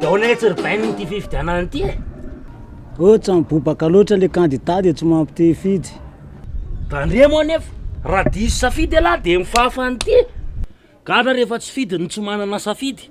Dia ahoana etsy ry Bainy ity fifidianana ity e? Ohatra mibobaka loatra le kandida dia tsy mampitehifidy. Daniel moa anefa raha diso safidy ialahy dia mifahafa an'ity. Gadra rehefa tsy fidiny tsy manana safidy.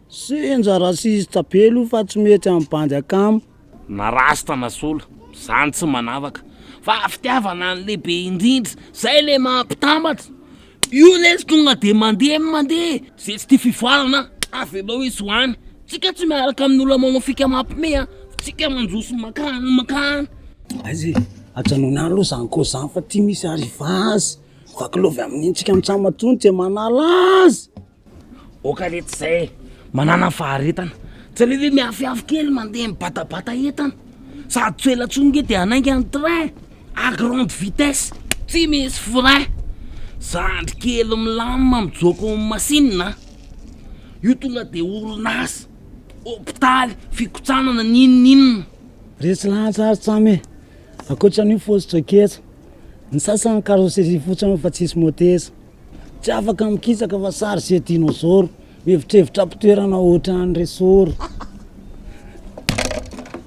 Senja raciste be lo fa tsy mety am bandy akama. Na rasta na sola, zany tsy manavaka fa fitiavana ny lehibe indrindra zay le maha mpitambatra, io lesy tonga de mandeha ny mandeha, ze tsy tia fivoarana avelao izy ho any, tsika tsy miaraka amin olona manao fika mampime a, tsika manjo sy mankany mankany. Aiza e! Ajanony any aloha zany cause zany fa ty misy arrivage vaky love amin'iny tsika mitsam atsony tsy manala azy. Oka re tsy zay manana faharetana tsy aleo ve miafiafy kely mandeha mibatabata entana sady tsy ho ela tsony nge de hanainga ny train à grande vitesse tsy misy frein zandry kely milamina mijoka ao amin'ny machine a io tonga de orinasa hopitaly fikotsanana n'inon'inona resy lahatra ary tsamy e ankoatran'io fositra ketsa ny sasany carrosserie fotsiny fa tsisy moteza Tsy afaka mikisaka fa sary se dinozoro. Mihevitrevitra am-pitoerana ohatran'ny resoro.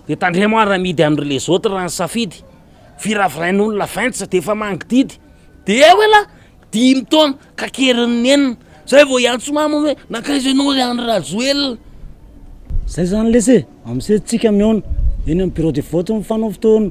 Dia tandremo ary amidy an'i les autres raha ny safidy. Viravirain'olona vingt dia efa mangididy. Dia eo elah dimy taona ka kerin'ny enina. Zay vao hiantso mama hoe nankaiza ianao ry Andry Rajoelina. Zay zany lesy e, am'seza tsika mihaona, eny amin'ny bureau de vote mifanao fotoana.